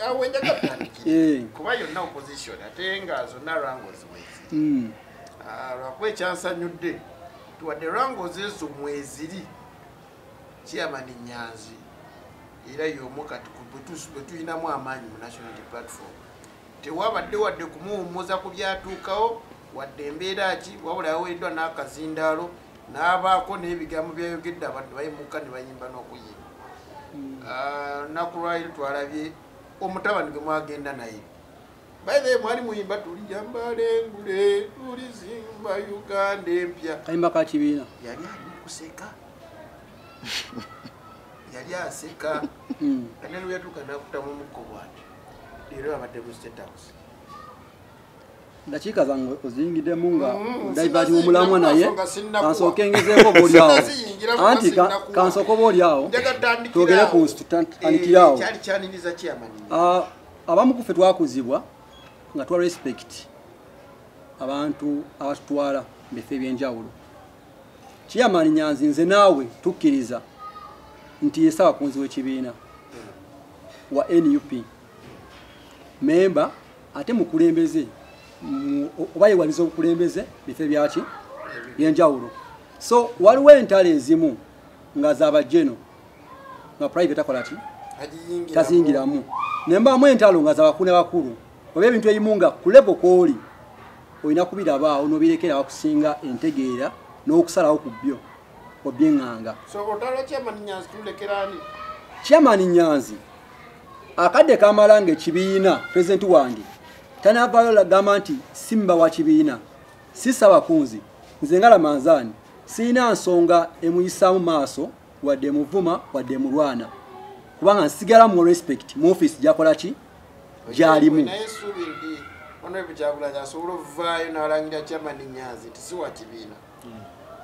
awo ah, enjaga tutandikire eh. kuba yonna opposition ate nga zonna rangos mwezi hmm. ah, lwakuba ekyansanyudde tuwadde rangos ezo mweziri kyeyamaani nyanzi era yomu kati bwetulinamu amaanyi mu national platform tewabadde wadde kumuwummuza ku byatuukawo wadde embeera ki wabula yaweereddwa n'akazindaalo n'abaako n'ebigambo byayogedde abantu bayimuka ne bayimba n'okuyimba hmm. ah, naku lwaliro twalabye omutabani gwe mwagenda naye baye mwali muyimba tulijambale ngule tulizimba uganda empya kayimba ka kibiina yali ali kuseka yali aseka hmm. kanene yatuuka nakutamu mukko bwati leero abadde mu state house ndakiika zange oziyingidemu nga mm, divati womulamwa naye kansooka engezeeko oba olyawo anti kansooka oba olyawo twogere ku nsitutandikirawo eh, abamu kufe twakuzibwa nga twa respect abantu abatutwala mubifo ebyenjawulo kiyamani nyanzi nze naawe tukkiriza nti yesaba kunzi wekibiina wa nup memba ate mukulembeze oba yewaliza obukulembeze bifo ebyaki byenjawulo so waliwo entalo ezimu nga zabajeno nga private akola ki tazingiramu naye mbaamu entalo nga zabakulu ne bakulu oba ebintu ebimu nga kulebo kwoli olina kubirabaawo nobirekera wakusinga entegeera n'okusalawo ku byo obyeŋŋanga chairman nyanzi akadde kamala nga ekibiina pulezidenti wange tanavaayo lagamba nti simba wa kibiina sisaba kunzi nze nga lamanzaani sirina nsonga emuyisaamu maaso wadde emuvuma wadde emulwana kubanga nsigala mu respect mu office gyakola ki gyalimu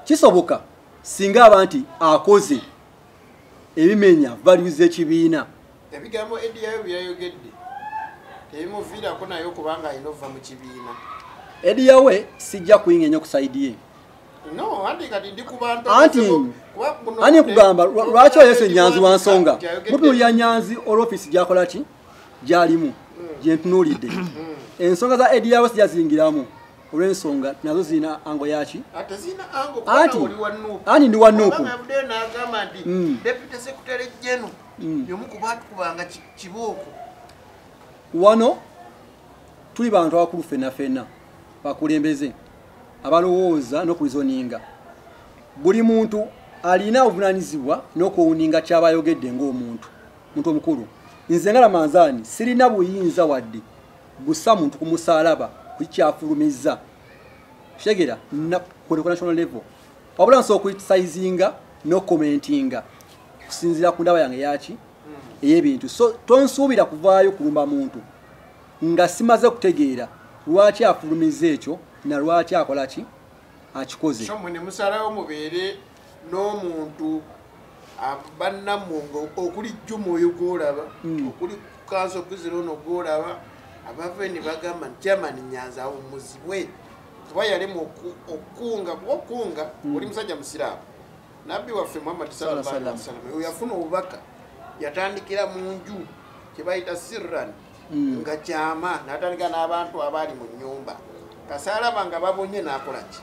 kisoboka singa aba nti akoze ebimenya value z'ekibiina ebigambo ediyayo byeyayogedde tebimuviirako naye okubanga alina okuva mu kibiina ediyawe sijja kuyinga enyo ku saidi ye ani kugamba lwaki oyese nyanzi wa nsonga mutunulira nyanzi olwofiisi gyakola ki gyalimu hmm. gyentunuulidde hmm. ensonga za ediyawe sijazingiramu olwensonga nazo zirina ango yaki ani ndi wa nuupu mm. mm. wano tuli bantu abakulu fena fena bakulembeze abalowooza n'okulizoninga buli muntu alina obuvunanyizibwa n'okuwuninga kyaba ayogedde ng'omuntu muntu omukulu nze nga lamanzaani sirina buyinza wadde gusa muntu kumusalaba kukyafulumiza shegera na ku national level wabula nso okuitisayizinga no commentinga kusinzira ku ndaba yange yaki eyebintu so tonsuubira kuvaayo kulumba muntu nga simaze kutegeera lwaki afulumiza ekyo na lwaki akola ki akikoze n'omuntu bannammwe nga okuli jjuma oyo gwolaba hmm. okuli kanso kuzira ono gwolaba abava eni bagamba nti chairman nyanza awumuzibwe kuba yalimu okukunga kuba okukunga hmm. oli musajja musiraamu nabbi waffe muhammad sallallahu alaihi wasallam oyo yafuna obubaka yatandikira mu nju kyebayita sirran hmm. nga kyama natandika n'abantu abaali mu nyumba kasaalaba nga babonye nakolaki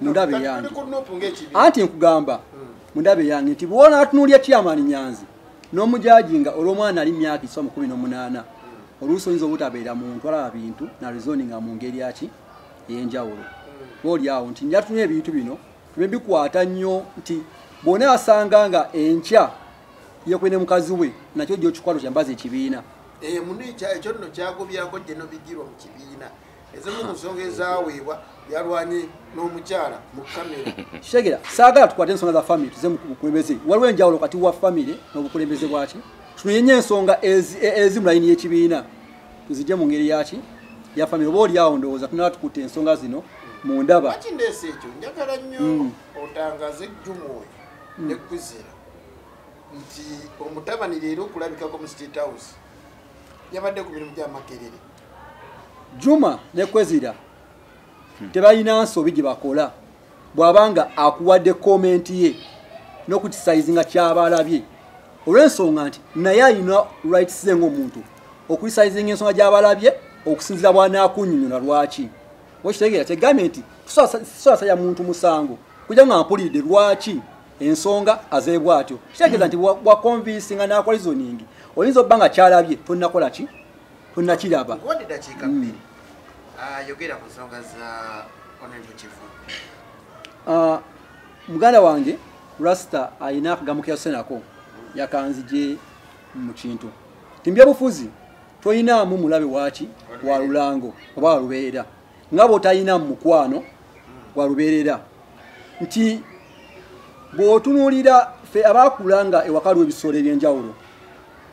mundabe yange anti nkugamba hmm. mundabe yange nti bwona atunulya chairman nyanzi n'omujajinga olw'omwana ali myaka iswa mu kumi n'omunaana hmm. oluusi oyinza obutabeera muntu alaba bintu na rezoni nga mu ngeri aki ey'enjawulo hmm. oli awo nti njatunya ebintu bino tube bikwata nnyo nti bwona asanga nga enkya yekwe ne mukazi we nakyo gyokikwalo kyambaza ekibiina eh, muno ekyo nno kyagobyako gye nobigirwa mu kibiina ezimu ku nsonga ezaweebwa yalwanye n'omukyala mu kamera shegera saagala tukwate ensonga za famiry tuze mukulembeze waliwo enjawulo kati wa famiry n'obukulembeze bwaki tunoyenye ensonga ezi mu layini y'ekibiina tuzijje mu ngeri yaki ya famiry oba oli awo ndowooza tunaba tukutte ensonga zino mu ndaba kindeesa ekyo njagala nnyo mm. otangaze ejjumu oyo mm. ne kuzira nti omutabani leero okulabikako mu state house yabadde ku mirimu gyamakerere juma ne kwezira tebalina nsobi gye bakola bw'aba nga akuwadde komenti ye n'okukisaizinga kyaba alabye olw'ensonga nti naye alina rights ze ng'omuntu okulisaizinga ensonga gy'aba alabye okusinzira bw'anaakunyonyola lwaki okitegeera kyegambye nti tusaasaya muntu musango kuja nga mpulidde lwaki ensonga azeebwa atyo kitegeeza nti wakonvinsinga n'akola izoningi oyinza obba nga kyalabye tonakola ki tonakiraba nkuwadde dakiika hmm. bbiri ah, yogera ku nsonga za honorable kivu ah, muganda wange rasta alina akagambo keyasenako yakanzije mu kintu timbyabufuzi toyinaamu mulabe waki wa lulango oba walubeerera nga bwotalinamu mukwano hmm. walubeerera nti bwotunulira fe abakulanga ewakaliwo ebisolo ebyenjawulo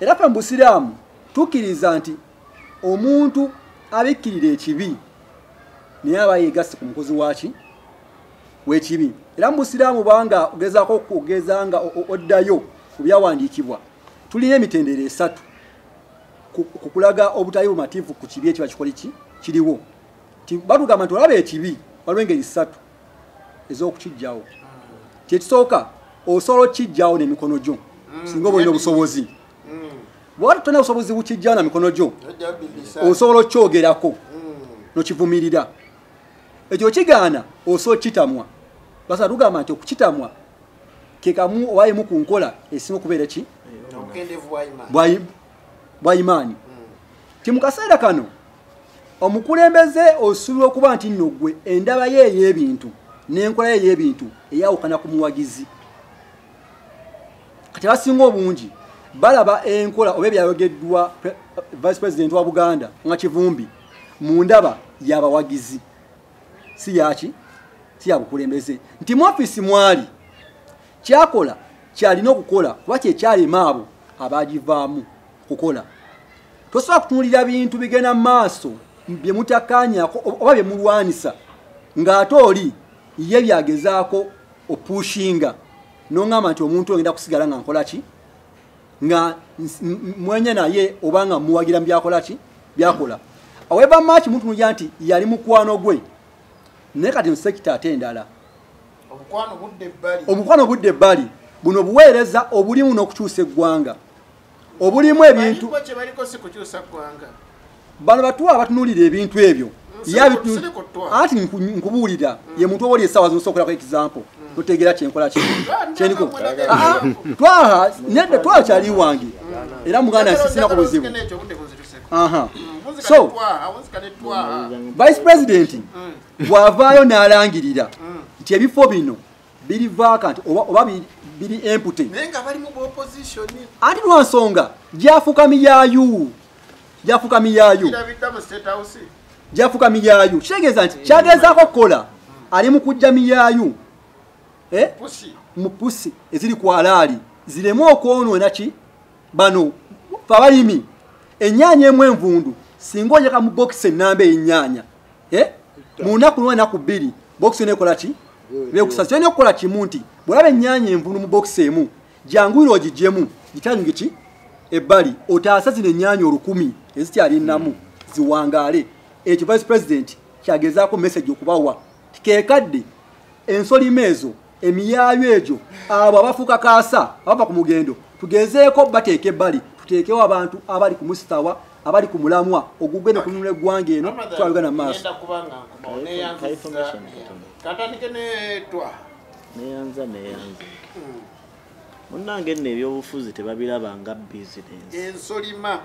era fe mubusiraamu tukiriza nti omuntu abikkirira ekibi naye aba yegasse ku mukozi waki wekibi era mubusiraamu banga ogezako okugeza nga oddayo ku byawandiikibwa tulina emitendero esatu kukulaga obutali bumativu ku kibi ekiba kikoli ki kiriwo batugamba nti olaba ekibi waliwo engeri satu ez'okukijjawo kyekisooka osobola okukijjawo nemikono gyo mm. singa oba olina obusobozi mm. bwewali tolina busobozi bukijjawo na mikono gyo osobola okukyogerako mm. nokivumirira ekyo okigaana osobola okukitamwa basa tugamba nti okukitamwa kekamu owayimu ku nkola esinga okubeera ki bwaimaani nti mu kaseera kano omukulembeze osuubirwa okuba nti nno gwe endaba ye ey'ebintu n'enkola ye ey'ebintu eyawukana ku muwagizi kati abasinga obungi balaba enkola oba ebyayogeddwa vice president wa buganda nga kivumbi mu ndaba yabawagizi si yaki si yabukulembeze nti mu ofiisi mwali kyakola kyalina okukola kuba kyekyalema abo abagivaamu okukola tosobola kutunulira bintu bigenda mu maaso bye mutakanyako oba bye mulwanisa ng'ate oli ye byagezaako opushinga noŋamba nti omuntu ogenda kusigala nga nkola ki nga mwenya naye oba nga muwagira mu byakola ki byakola aweva maaki mutunulira nti yali mukwano gwe naye kati nsekita ate endala obukwano budde ebbali buno buweereza obulimu n'okukyusa eggwanga obulimu ebintu bano batuwa abatunulira ebintu ebyo ati nkubuulira mm. ye muntu oboli esaawa zinosookolako example mm. totegeera kyenkola kyeniko ah, ah, twaha nedde twaha kyali wange mm. era muganda nsisinako buzibu so vice president bwavaayo n'alangirira nti ebifo bino biri vacant oba, oba biri empty naye nga bali mu opposition ati lwa nsonga gyafuka miyayu gyafuka miyayu gyafuka miyayu kitegeeza nti kyagezaako okukola ali mu kujja miyayu eh? mu pusi eziri ku alaali ziremu okwonoona ki bano fabalimi ennyaanya emu envundu singa ojaka mu bokisi ennamba ey'ennyaanya eh? mu nnaku lumu enaku bbiri bokisi yona ekola ki bekusasa kyolina okukola kimu nti bwolaba ennyanya envunu mu bokisi emu janguyira ogigyemu gitanyuge ki ebbali otaasa zino ennyanya olukumi ezikyali nnamu ziwangaale ekyo vice president kyagezaako message okubawa kekadde ensolima ezo emiyaayo egyo abo abafuuka kaasa abava ku mugendo tugezeeko bateeka ebbali tuteekewo abantu abali ku musitawa abali ku mulamwa ogugwe ne kununula eggwanga eno twalugana mu maaso katandike netwa neyanza neyanza hmm. munange nno ebyobufuzi tebabiraba nga bizinensi ensolima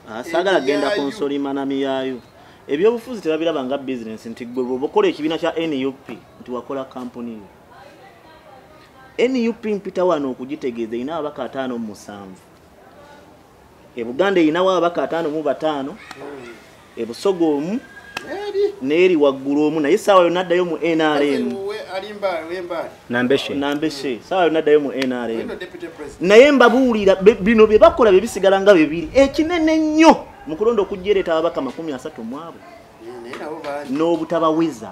ah, saagala genda ku nsolima na miyayo ebyobufuzi tebabiraba nga bizinensi nti gwe bwoba okola ekibiina kya nup nti wakola kampuni yo nup mpita wano okugitegeeza erina ababaka ataano mu musanvu ebuganda erinawo ababaka ataano mu bataano ebusoga omu neeri waggulu omu naye saawa yona addayo mu nrm nambeshe saawa yona addayo mu nrm naye mbabuulira bino bye bakola bye bisigala nga bibiri ekinene nnyo mu kulonda okujjereeta ababaka makumi asatu mu abo n'obutabaweza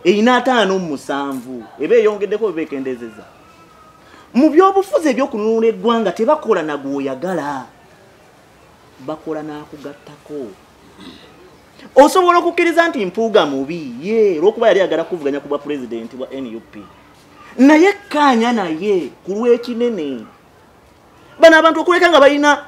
erina ataano mu musanvu eba eyongeddeko eba ekendezeza mu byobufuzi ebyokununula eggwanga tebakola nagwoyagala bakola nakugattako osobola okukkiriza nti mpuuga mubi ye olwokuba yali agala kuvuganya ku bwa pulezidenti bwa nup naye kkaanya naye ku lw'ekinene bano abantu okuleka nga balina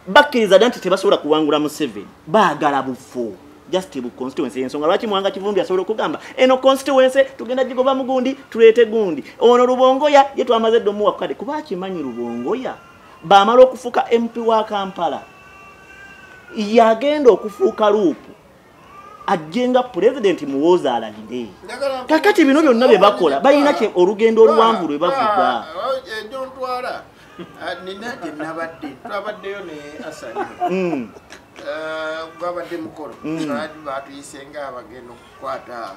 bakkiriza dda nti tebasobola kuwangula museveni baagala bufo just bu constituency ensonga lwaki mwanga kivumbi asobola okugamba eno constituency tugenda gigoba mugundi tuleete gundi ono lubongoya ye twamaze dda omuwa kukade kuba akimanyi lubongoya bamala okufuuka mp wa kampala yagenda okufuuka luupu ajjenga pulezidenti muwooza alalire kakati bino byonna bye bakola balina kye olugendo oluwanvu lwe bavuga nina gye nabadde twabaddeyo ne asani hmm. eh, gwabadde mukolo hmm. batuyise nga abagenda okukwata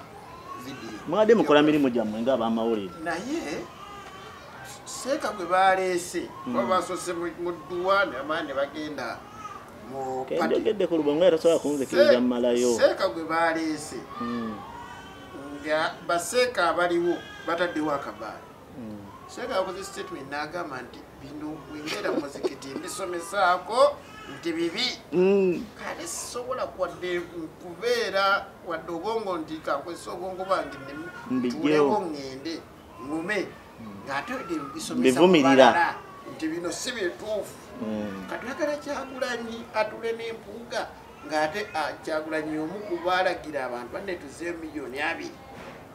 vidiyo mwabadde mukola mirimu gyammwe nga abamawulire naye seeka gwe baleese hmm. oba basose mu dduwa namaani bagenda kenjogedde ku lubongo era tosobola kunzikiriza mumalayo seeka gwe baleese hmm. nga baseeka abaliwo bataddewo akabaala hmm. seeka akoze statement n'agamba nti bino wengera muzikiti mbisomesaako nti bibi hmm. kale sisobola kwadde kubeera wadde obwongo nti kakozesa obwongo bwange ntuuleko ŋŋende ngume bivumirira nti bino si bituufu hmm. katwagala kyagulanyi atule n'empuuga ng'ate ah, kyagulanyi omu kubaalagira abantu banne tuze miliyoni abiri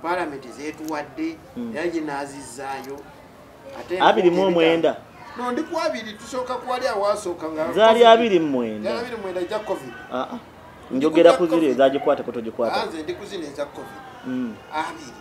palamenti zetuwadde hmm. era ye n'azizzaayo abiri mu omwenda no ndi ku abiri tusooka kuwali awaasooka nga zaali abiri mu mwenda abiri mwenda ja covid ah, ah. njogera ku ziri ezagikwateko togikwata nze ndi ku zino eza covid hmm. abiri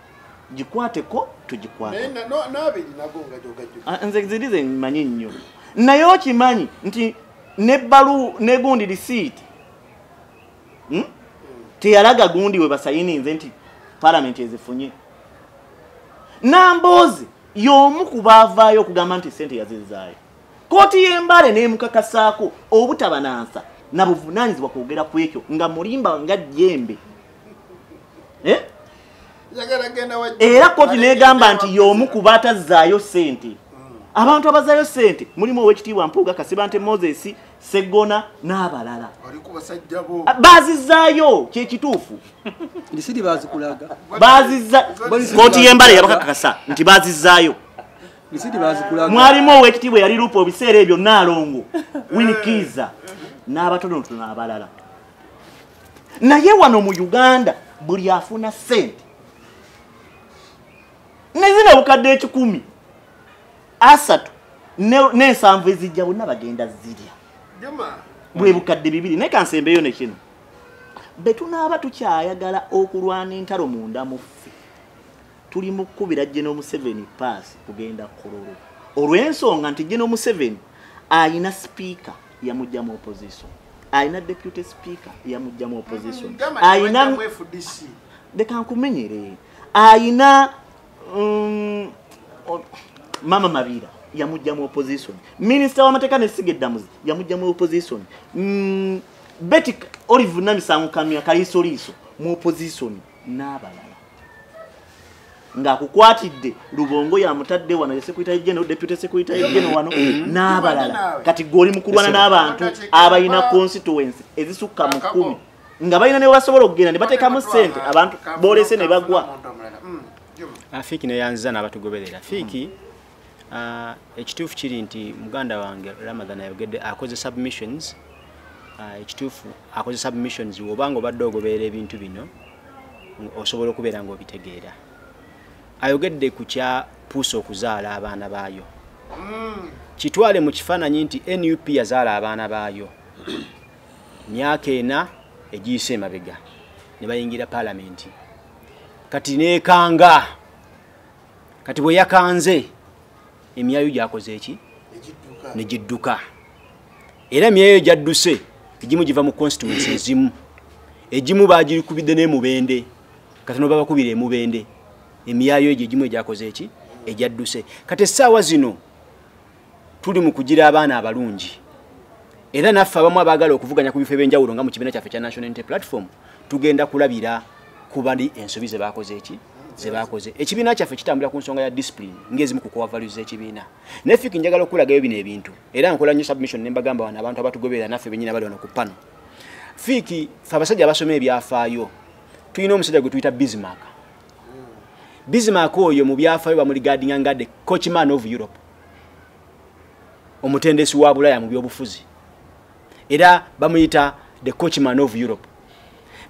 gikwate ko tugikwatnze ziri ze manyi nnyo naye okimanyi nti nebalu negundi risiiti hmm? teyalaga gundi we basayininze nti palamenti ezifunye namboozi y'omu ku baavaayo okugamba nti sente yazizaayo kooti y'embale n'emukakasaako obutabanansa na buvunaanyizibwa kwogera ku ekyo nga mulimba nga jjembe eh? era koti negamba nti yomu kuba atazzaayo sente hmm. abantu abazaayo sente mulimu owekitiibwa mpuuga kasibante moses segona n'abalala ah, bazizaayo kyekituufu koti yembale yabakakakasa nti bazizaayo mwalimu owekitiibwa yali lupa obiseera ebyo naalongo winikiiza n'abatonotono abalala naye wano mu uganda buli afuna sente nezina obukadde ekikumi asatu n'ensanvu ezijja bonna bagenda zirya bwe bukadde bibiri naye kansembeyo ne kino be tunaaba tukyayagala okulwana entalo munda muffe tuli mu kukubira jeno museveni paasi kugenda kululu olw'ensonga nti jeno museveni ayina sipiika yamujja mu opposition alina deputy speaker yamujja mu opposition mm, alina leka nkumenyere alina um, mama mabira yamujja mu opposition minister w'amateeka n'essiga eddamuzi yamujja mu opposition mm, beti olive namisango kamya kaliisoliiso mu opposition n'abalala ng'akukwatidde lubongo yamutadde wano yesekwitayo geno deputy sekwitayo geno wano mm-hmm. n'abalala kati gwe oli mukulwana n'abantu abalina constituency ezisukka mu kkumi nga balina ne webasobola okugenda ne bateekamu ssente abantu boolese ne bagwa mm, afiiki neyanziza n'abatugoberera fiiki mm. Ah, ekituufu kiri nti muganda wange ramadhan ayogedde akoze submissions ah, ekituufu akoze submissions woba nga obadde ogobeera ebintu bino osobola okubeera nga obitegeera ayogedde ku kya puusa okuzaala abaana baayo mm. kitwale mu kifaananyi nti nup yazaala abaana baayo myaka ena egiyise emabega ne bayingira palamenti kati neekanga kati bwe yakanze emyayo gyakoze eki ne gidduka era emyayo gyadduse egimu giva mu constituency ezimu egimu bagikubidde n'emubende kati no babakubira emubende emyayo egyo egimu egyakoze eki egyadduse kati essaawa zino tuli mu kugira abaana abalungi era naffe abamu abaagala okuvuganya ku bifo ebyenjawulo nga mu kibiina kyaffe kya national unity platform tugenda kulabira ku bali ensobi ze baakoze eki ze baakoze ekibiina kyaffe kitambula ku nsonga ya discipline ng'ezimu ku kowa values z'ekibiina naye fiki njagala okulagayo bino ebintu era nkola nnyo submission ne mbagamba wano abantu abatugoberera naffe bennyini abali wano ku pano fiki fe abasajja abasoma ebyafaayo tulina omusajja gwe tuyita bismark bismark oyo mu byafaayo bamuligadinga nga the coachman of europe omutendesi wa bulaya mu byobufuzi era bamuyita the coachman of europe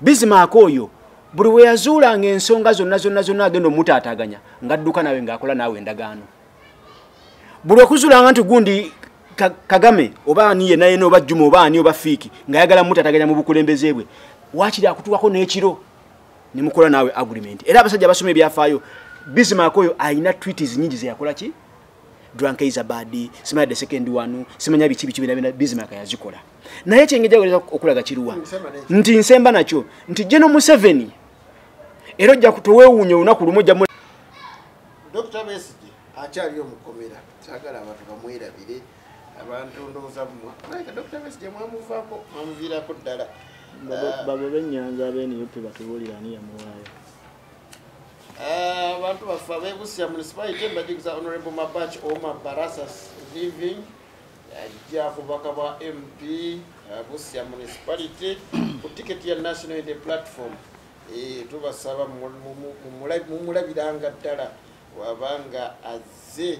bizimaaka oyo buli we yazuulanga ensonga zonna zonna zonna agenda omutaataganya ng'adduka nawe ng'akola naawe endagaano buli okuzuulanga nti gundi kagame oba ani yena yena oba juma oba ani oba fiiki ng'ayagala mutaataganya mu bukulembeze bwe waakiri akutwako n'ekiro ne mukola naawe agreement era abasajja abasoma ebyafaayo bismark oyo alina tweets nyingi zeyakola ki drunk is a bad simanya the second one simanya biki biki bina bismark yazikola naye kyengeja weza okulaga kiruwa nti nsemba nakyo nti jeno museveni era ojja kutowewunya olunaku lumu ojja dr mesige akyaliyo mukomera sagala abantu bamwerabire abantu ndowooza bumwe naye dokita besigye mwamuvaako mwamuviirako ddala babo ah. benyanza abenup batubuulira ani yamuwaayo ah, abantu baffe abebusia municipality mbajigisa honorable mabach oma barasas living ajja kubaka bwa mp ah, busia municipality ku ticket ya national inde platform eh, tubasaba mumulabiranga ddala wabanga azze